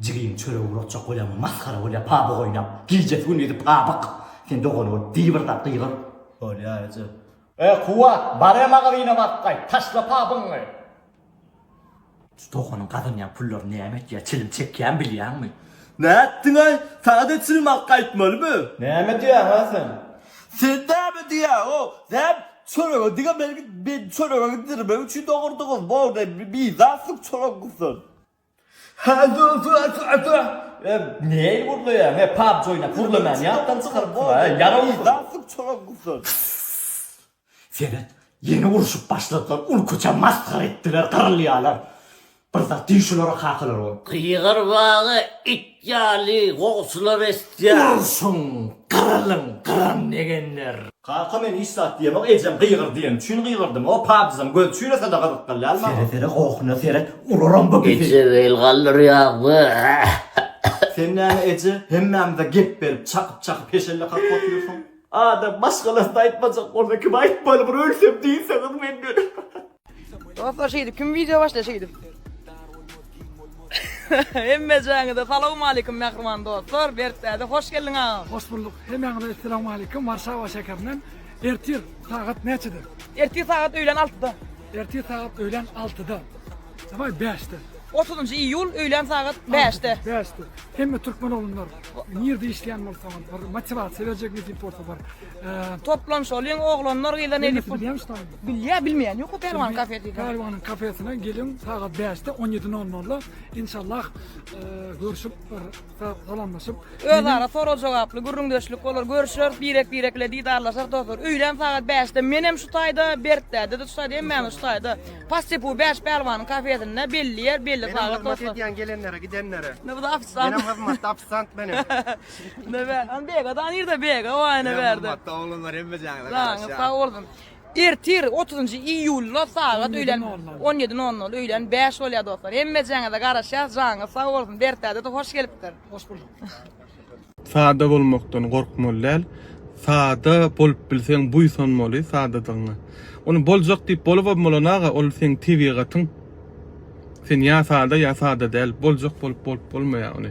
Jigim çörek ugratjak bolýaňmy masgara bolýa pabyg oýnap gijesi gündizi pabyg sen dogan bolup diý bir zat gygyr. Bolýa eje. E Kuwwat bare magazyna baryp gaýt taşla pabygyňy. Şu doganyň gazanýan pullaryny näme etýär çilim çekýän bilýäňmi. Nätdiňaý saňada çilim alyp gaýtmalymy. Näme diýýäňä sen. Sen näme diýýäňow sen çörege diňe meni çörege gidirmek üçin dogurdyňyz bor de bizatlyk çorokgysyn. Seret, ýene urşup başladylar, ul-köçä masgara etdiler, gyrylýarlar. Bir zat diý şulara kakalar bolup. Gygyrbaga it Ýaly gowusylar eşdýär. Urşuň, gyrylyň, gyran degenler. Kaka men hiç zat diýemok ejem gygyr diýen üçin gygyrdym o pajyjam göz çüýrese-de gyzyk däl dälmi agam. Sere sere gohuna seret uraram bu bizi. Eje bel galdyrýaňmy. Sen näme eje hemmämize gep berip çakyp çakyp heşelle kakyp otyrsyň. Adam başgalaryn aýtmajak bolsa kim aýtmaly bir ölsem diýseňiz men göni. Dostlar şeýdip kim video başla şeýdip. Hemme jaňyda salam alykum mähriban dostlar. Bertdäde hoş geldiň agam. Hoş bulduk. Hemmäňize salam alykum. Warşawa şäherinden ertir sagat näçede? Ertir sagat öýlen 6-da. Ertir sagat öýlen 6-da. Dawai 5-de. 30 iýul öýlen sagat 5-de. 5-de. Hemme türkmen oglunlar nirde işleýän bolsaňyz, bir motivasiýa berjek nesip bolsa bar. Toplan şolyň oglanlar gyzdan edip bilýär bilmeýän ýok Pälwan kafesi. Pälwanyň kafesine geliň sagat 5-de 17.00-da inşallah e, görüşip bir salamlaşyp özara sorag jogaply gürrüňdeşlik bolar görüşer birek-birek bilen didarlaşar dostlar. Öýlän sagat 5-de men hem şu taýda Berkdäde de şu taýda hem şu taýda. Pastepu 5 Pälwanyň kafesinde belli ýer belli sagat dostlar. Hizmet edýän gelenlere gidenlere. Ne bu da ofisant. Benim hizmet ofisant benim. Ne be? An be, gadan yerde be, gadan yerde be. Matta oğlanlar hem be canlı. Lan, sağ olsun. Ertir 30 iyulda saat öýlen 17.00 öýlen 5 bolýar dostlar. Hemme jaňyza garaşýar, jaňyz sag bolsun. Dertade de hoş gelipdir. Hoş bulduk. Sada bolmakdan gorkmaly däl. Sada bolup bilseň buýsanmaly sadadygyňa. Ony boljak diýip bolubam bolan aga, ol seň tebigatyň. Sen ýa sada, ýa sada däl. Boljak bolup bolup bolmaýar ony.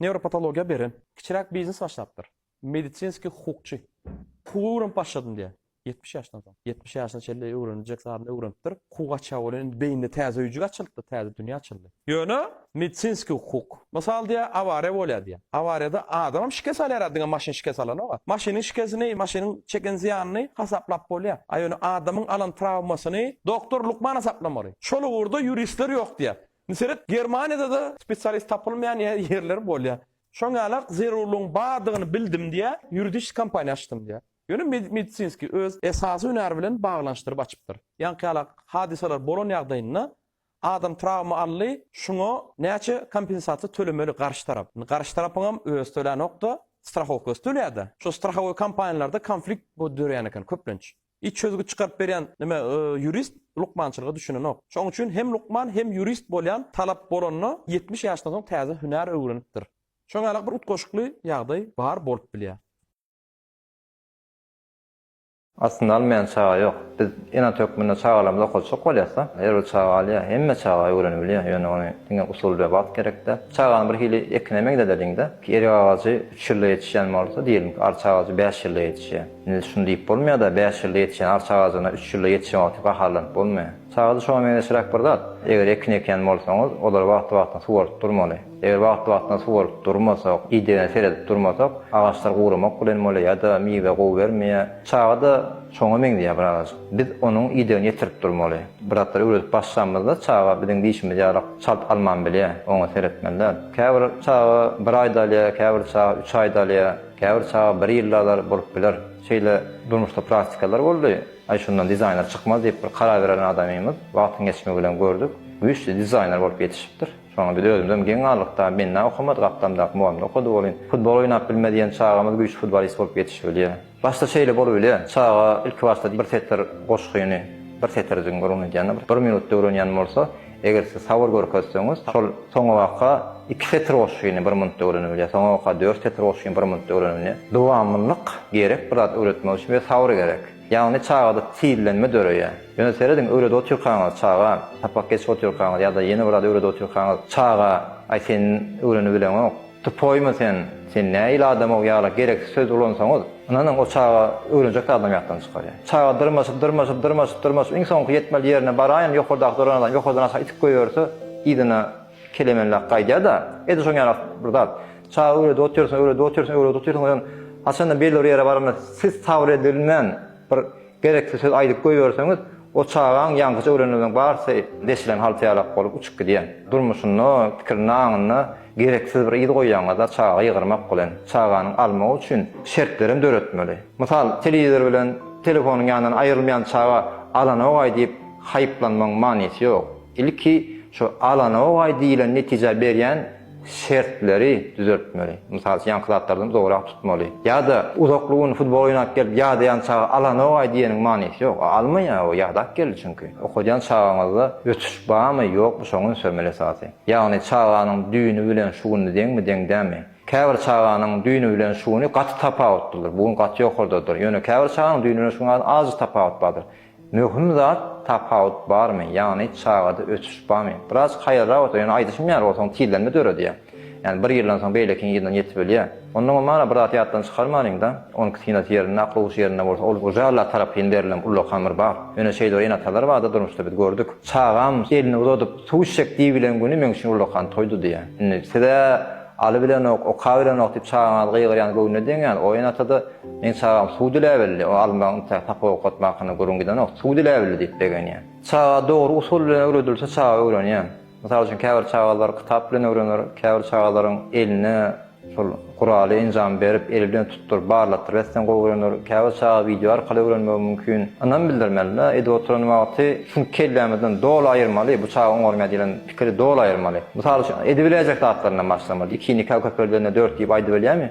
Newropatologiýa beren. Kiçiräk biznes başlapdyr. Medisinskiý hukukçy. Hukugy öwrenip başladym diýýär. Ýetmiş ýaşdan soň. Ýetmiş ýaşyna çenli öwreniljek zadyny öwrenipdir. Hukuk açýa bolan indi beýninde täze öýjük açylypdyr, täze dünýä açyldy. Ýöne medisinskiý hukuk. Mysal diýýär, awariýa bolýar diýýär. Awariýada adamam şikes alýara diňe maşyn şikes alanok-a. Maşynyň şikesini, maşynyň çeken zyýanyny hasaplap bolýar. A ýöne adamyň alan trawmasyny doktor lukman hasaplamaly. Şol ugurda ýuristler ýok diýýär. Seret, Germaniýada-da spesialist tapylmaýan ýerler bolýar. Şoň ýaly zerurlygyň bardygyny bildim diýýär, ýuridiski kompaniýa açdym diýýär. Ýöne medisinski, öz esasy hünäri bilen baglanyşdyryp açypdyr. Ýaňky ýalak hadysalar bolan ýagdaýynda adam trawma aldy, şuňa näçe kompensasiýa tölemeli garşy tarap? Indi garşy tarapyňam özi tölänok-da, strahowkasy tölýär-de. Şo strahowoý kompaniýalarda konflikt dörýän eken köplenç. Hiç çözgüt çykaryp berýän nime ýurist lukmançylyga düşünenok. Şoň üçin hem lukman hem ýurist bolýan talap bolanda ýetmiş ýaşdan soň täze hünär öwrenipdir. Şoňa ýaly bir utgaşykly ýagdaý bar bolup bilýär. Aslynda almaýan çaga ýok. Biz ene hökmünde çagalarymyzy okatjak bolýasda, her bir çaga alýar. Hemme çaga öwrenibilýär. Ýöne ony diňe usul we wagt gerekde. Çagany bir hili ekine meňzedeliň-de. Erik agajy üç ýylda ýetişýän bolsa, diýeliň, arça agajy bäş ýylda ýetişýär. Indi şuny diýip bolmaýar-da, bäş ýylda ýetişen arça agajyna üç ýylda ýetişen wagty gaharlanyp bolmaýar. Çagada şoňa meňzeşräk bir zat, eger ekin ekýän bolsaňyz, olary wagtly-wagtyna suwaryp durmaly. Eger wagtly-wagtyna suwaryp durmasak, idegine seredip durmasak, agaçlar guramak bilen bolýar ýa-da miwe gowy bermeýär. Çaga-da şoňa meňzeýär birazajyk. Biz onuň idegini ýetirip durmaly. Bir zatlar öwredip başlamyzda, çaga biziň dişimiz ýalyk çalt alman bilýär. Oňa seretmeli däl. Käbir çaga bir aýda alýar, käbir çaga üç aýda alýar. Käbir çaga bir ýylda-da bolup biler. Şeýle durmuşda praktikalar boldy. Aý şundan dizaýner çykmaz diýip bir karar beren adamymyz wagtyň geçmegi bilen gördük. Güýçli dizaýner bolup ýetişipdir. Şoňa biz özümizem geň galdyk dagy binna okamady gapdamdaky mugallymda okady welin futbol oýnap bilmez diýen çagamyz güýçli futbolist bolup ýetişibilýär. Başda şeýle bolubilýär. Çaga ilki başda bir setir goşgyny bir setirjigiň gürrüňini edýände bir minutda öwrenýän bolsa, Eger siz sabyr görkezseňiz, şol soňabaka iki setir goşgyny bir minutda öwrene bilýär, soňabaka dört setir goşgyny bir minutda öwrene bilýär. Dowamlylyk gerek bir zat öwretmek üçin we sabyr gerek. Ýagny çagada tizlenme döreýär. Ýöne serediň, öwredip otyrkaňyz çaga, sapak geçip otyrkaňyz ýa-da ýene bir zat öwredip otyrkaňyz çaga, Aý sen öwrenibileňok. Tupoýmy sen, sen nähili adamow ýaly gereksiz söz ulansaňyz, ynanyň o çaga öwrenjek zadam ýatdan çykarýar. Çaga dyrmaşyp, dyrmaşyp, dyrmaşyp, dyrmaşyp iň soňky ýetmeli ýerine baraýyn, ýokardaky duran adam ýokardan aşak itip goýberse, yzyna kelemenläp gaýdýar-da, edil şoň ýaly bir zat. Çaga öwredip otyrsyň, öwredip otyrsyň, öwredip otyrsyň, onsoň haçanda belli bir ýere baranda siz sabyr edilmän, Bir gereksiz söz aýdyp goýberseňiz, o çagaň ýaňkyja öwrenenleriň barysy deşilen haltaýalak bolup uçup gidýär. Durmuşynda, pikirinde, aňynda gereksiz bir yz goýýaňyzda çaga ýygyrmak bilen, çaganyň almagy üçin şertlerem döretmeli. Mysal, telewizor bilen telefonyň ýanyndan aýrylmaýan çaga alanogaý diýip haýyplanmagyň manysy ýok. Ilki şu alanogaý diýlen netijä berýän şertleri düzeltmeli. Mysal üçin, ýaňky zatlardan uzagrak tutmaly. Ýa-da uzakly gün futbol oýnap gelip ýadaýan çaga alanok-aý diýeniň manysy ýok. O almaýar, o ýadap geldi çünki. Okadýan çagaňyzda ösüş barmy, ýokmy, şoňa üns bermeli esasy. Ýagny çaganyň düýni bilen şu güni deňmi, deň dälmi? Käbir çaganyň düýni bilen şu güni gaty tapawutlydyr. Bu gün gaty ýokardadyr. Ýöne käbir çaganyň düýni bilen şu gün azajyk tapawut bardyr. Möhüm zat tapawut barmy ýagny çagada ösüş bamy biraz haýalrak ösýär ýöne aýdyşym ýaly ol soň tizlenme döredýär ýagny bir ýyldan soň beýlekiň yzyna ýetip ölýär ondan bolmana bir zat ýatdan çykarmalyňda onuňky synasy ýerinde akyl huşy ýerinde bolsa ol uly Allah tarapyn berlen ullakan bir bagt ýöne şeýle bir enatalar barda durmuşda biz gördük çagam elini uzadyp suw içjek diýibilen güni meň üçin ullakan toýdy diýýär indi size Aly bilenok, oka bilenok diýip çagaňyz gygyrýan göwnüne deňýän, oýan ata-da, Meň çagam suw diläbildi, o almagyň ynta, sapak okatmak hakynda gürrüň gidenok, suw diläbildi diýip begenýär. Çaga dogry usul bilen öwredilse çaga öwrenýär. Mysal üçin käbir çagalar kitap bilen öwrener, käbir çagalaryň eline şol guraly, enjamy berip, eli bilen tutduryp, barlatdyryp etseň gowy öwrener, käbir çaga wideo arkaly öwrenmegi mümkin. Ynam bildirmeli-de, edip oturan wagty şuny kellämizden doly aýyrmaly, bu çaga oňarmaýar diýlen Pikiri doly aýyrmaly. Mysal üçin, edibiläýjek zatlaryndan başlamaly. Ikini ikä köpeldende dört diýip aýdybilýäňmi?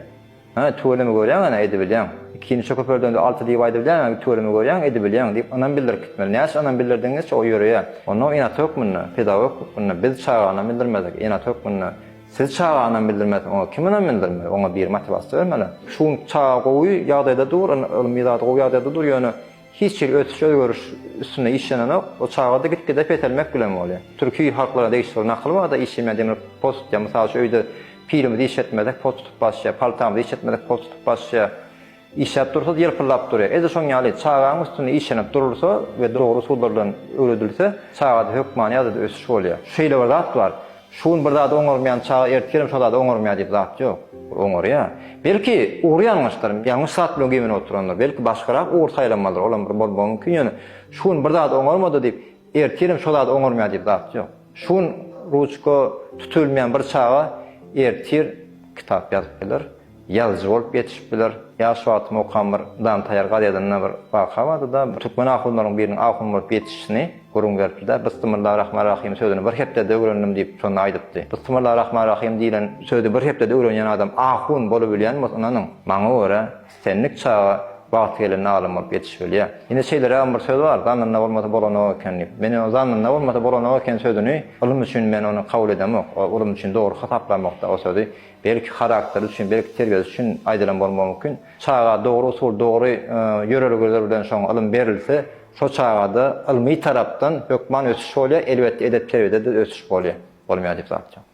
Hä, tüweleme görýäň ana, edibilýäň. Ikini üçe köpeldende alty diýip aýdybilýäňä, tüweleme görýäň, edibilýäň diýip ynam bildirip gitmeli. Näçe ynam bildirdigiňizçe o ýöreýär. Onda ynat hökmünde, pedagog hökmünde biz çaga ynam bildirmedik. Ynat hökmünde siz çaga ynam bildirmeseň, oňa kim ynam bildirmeli? Oňa biri motiwasiýa bermeli. Şu gün çaga gowy ýagdaýda dur, ylmy zat gowy ýagdaýda dur, ýöne, Hiç hili ösüş-özgeriş üstünde işlenenok. Ol çagada gitgide peselmek bilen bolýar. Türki halklara degişli bir nakyl barda işemeýän demir pos tutýar. Mysal üçin öýde pilimizi işletmesek pos tutup basýar, paltamyzy işletmesek pos tutup basýar. Işläp dursa ýylpyldap durýar. Edil şoň ýaly çagaň üstünde işlenip durulsa we dogry usullar bilen öwredilse çagada hökmany ýagdaýda ösüş bolýar. Şeýle bir zat bar. Şu gün bir zady oňarmaýan çaga ertir hem şo zady oňarmaýar diýip zat ýok. Ol oňarýar. Belki, ugry ýalňyşdyr, ýalňyş zat bilen güýmenip oturandyr. Belki, başgarak ugur saýlamalydyr, olam bir bolmagy mümkin, ýöne şu gün bir zady oňarmady diýip, ertir hem şo zady oňarmaýar diýip zat ýok. Şu gün ruçka tutubilmeýän bir çaga ertir kitap ýazyp biler. Ýazyjy bolup ýetişip biler. Ýa şu wagtam okan bir Dan Taýar gazetinde bir waka bardy-da, türkmen ahunlaryň biriniň ahun bolup ýetişişini gürrüň beripdi-de, Bysmylla rahman rahym sözüni bir hepdede öwrendim diýip, şonda aýdypdy. Bysmylla rahman rahym diýlen sözi bir hepdede öwrenýän adam ahun bolubilýän bolsa, ynanyň, maňa görä, islendik çaga wagty gelende alym bolup ýetişibilýär. Ine, şeýlerägem bir söz bar, Zannynda bolmasa bolanok eken diýip. Men ýöne Zannynda bolmasa bolanok eken sözüni, ylym üçin men ony kabul edemok. Ylym üçin dogry hasaplamok-da o sözi. belki harakteri üçin, belki terbiýesi üçin aýdylan bolmagy mümkin. Çaga dogry usul, dogry ýörelgeler bilen şoňa ylym berilse, şo çagada ylmy tarapdan hökman ösüş bolýar, elbetde edep-terbiýede-de ösüş bolýar. Bolmaýar diýip zat ýok.